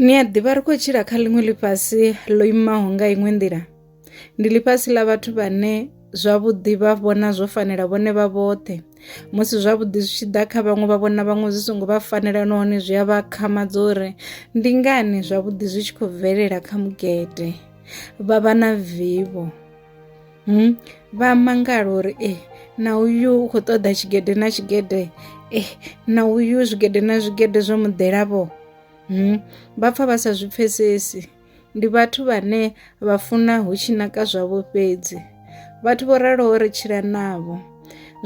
Ni a ḓivha ri khou tshila kha ḽiṅwe ḽifhasi ḽo imaho nga iṅwe nḓila ndi ḽifhasi ḽa vhathu vhane zwavhuḓi vha vhona zwo fanela vhone vha vhoṱhe musi zwavhuḓi zwi tshi ḓa kha vhaṅwe vha vhona vhaṅwe zwi songo vha fanela nahone zwi a vha khamadza uri ndi ngani zwavhuḓi zwi tshi khou bvelela kha mugede vha vha na vivho. hmm? vha mangala uri e na uyu u khou ṱoḓa tshigede na tshigede e na uyu zwigede na zwigede zwo muḓelavho hmm? vha pfa vha sa zwi pfesesi ndi vhathu vhane vha funa hu tshi naka zwavho fhedzi vhathu vho raloho ri tshila navho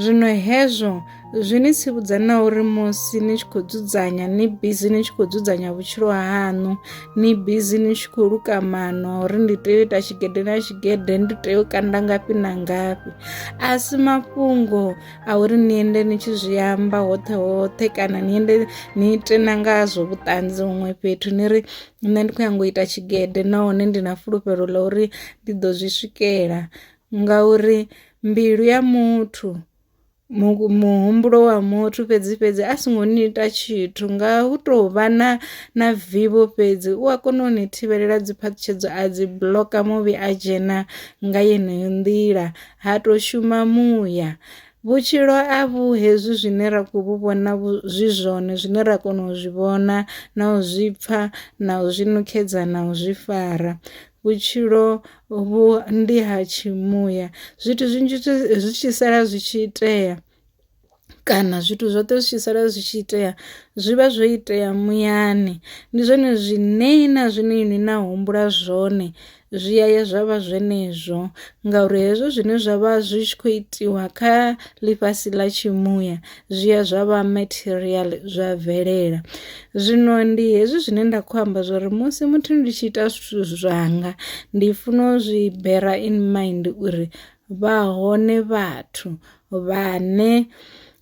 zwino hezwo zwi ni tsivhudza na uri musi ni tshi khou dzudzanya ni bizi ni tshi khou dzudzanya vhutshilo haṋu ni bizi ni tshi khou luka mano uri ndi tea u ita tshigede na tshigede ndi tea u kanda ngafhi na ngafhi a si mafhungo a uri ni ende ni tshi zwi amba hoṱhe hoṱhe kana ni ende ni ite na ngazwo vhuṱanzi huṅwe fhethu ni ri nṋe ndi khou nyanga u ita tshigede nahone ndi na fulufhelo ḽa uri ndi ḓo zwi swikela Ngauri mbilu ya muthu mu muhumbulo wa muthu fhedzi fhedzi a songo ni ita tshithu nga hu tou vha na na vivho fhedzi u a kona u ni thivhelela dzi phaṱhutshedzo a dzi buḽoka muvhi a dzhena nga yeneyo nḓila ha to shuma muya. Vhutshilo a vhu hezwi zwine ra kho vhu vhona zwi zwone zwine ra kona u zwi vhona na u zwi pfha na u zwi nukhedza na u zwi fara, vhutshilo vhu ndi ha tshi muya zwithu zwinzhi zwi tshi sala zwi tshi itea kana zwithu zwoṱhe zwi tshi sala zwi tshi itea zwi vha zwo itea muyani, ndi zwone zwine na zwine ini na humbula zwone zwi ya ya zwa vha zwenezwo ngauri hezwo zwine zwa vha zwi tshi kho itiwa kha ḽifhasi ḽa tshi muya. zwi ya zwa vha material zwa bvelela zwino ndi hezwi zwine nda khou amba zwori musi muthu ndi tshi ita zwithu zwanga ndi funa u zwi bera in mind uri vha hone vhathu vhane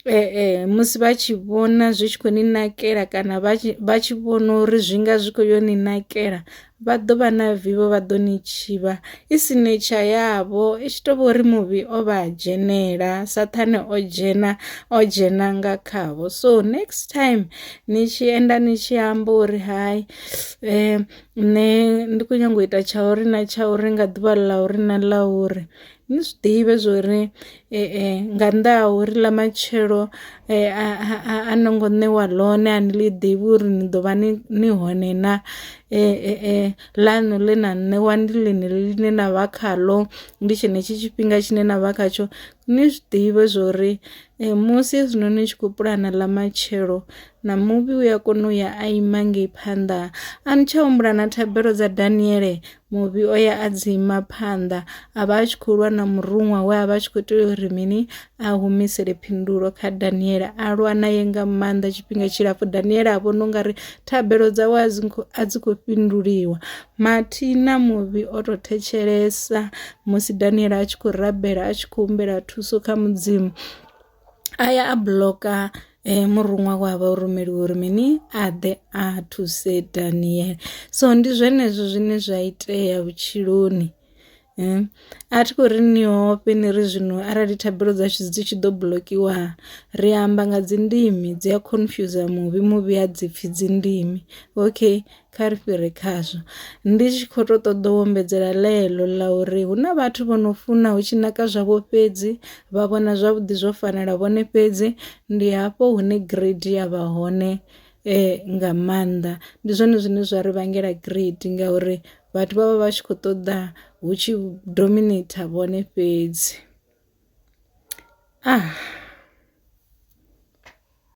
ee musi vha tshi vhona zwi tshi khou ni nakela kana vha tshi vhona uri zwi nga zwi kho yo ni nakela Vha ḓo vha na vivho vha ḓo ni tshivha i si netsha yavho i tshi tou vha uri muvhi o vha a dzhenela sathane o dzhena o dzhena nga khavho so next time ni tshi enda ni tshi amba uri hai um nṋe ndi khou nyanga u ita tsha uri na tsha uri nga ḓuvha ḽa uri na ḽa uri ni zwi ḓivhe zwori nga nnḓa ha uri ḽa matshelo a no ngo ṋewa ḽone a ni ḽi ḓivhi uri ni ḓo vha ni ni hone na ḽanu ḽe na ṋewa ndi ḽine ḽine na vha khaḽo ndi tshenetshi tshifhinga tshine na vha khatsho, ni zwi ḓivhe zwori musi hezwinoni ni tshi khou puḽana ḽa matshelo. Na muvhi u a kona u ya a ima ngei phanḓa. A ni tsha humbula na thabelo dza Daniele? Muvhi o ya a dzi ima phanḓa, a vha a tshi khou lwa na muruṅwa we a vha a tshi khou tea uri mini? A humisele phindulo kha Daniele. A lwa naye nga maanḓa tshifhinga tshilapfu. Daniele a vhona u nga ri thabelo dzawe a dzi a dzi khou fhinduliwa. Mathi na muvhi o tou thetshelesa musi Daniele a tshi khou rabela, a tshi khou humbela thuso kha Mudzimu. a ya a buḽoka eh, muruṅwa wa vha rumeliwa uri mini a ḓe a thuse daniel so ndi zwenezwo zwine zwa itea vhutshiloni eh, a thi khou ri ni ofhe ni ri zwino arali thabelo dzashu dzi tshi ḓo buḽokiwa ri amba nga dzindimi dzi a confuse muvhi muvhi a dzi pfhi dzindimi okay kha ri fhire khazwo ndi tshi khou tou ṱoḓa u ombedzela ḽeḽo ḽa uri hu na vhathu vho no funa hu tshi naka zwavho fhedzi vha vhona zwavhuḓi zwo fanela vhone fhedzi ndi hafho hune grade ya vha hone nga maanḓa ndi zwone zwine zwa ri vhangela grade ngauri vhathu vha vha vha tshi khou ṱoḓa hu tshi dominate vhone fhedzi .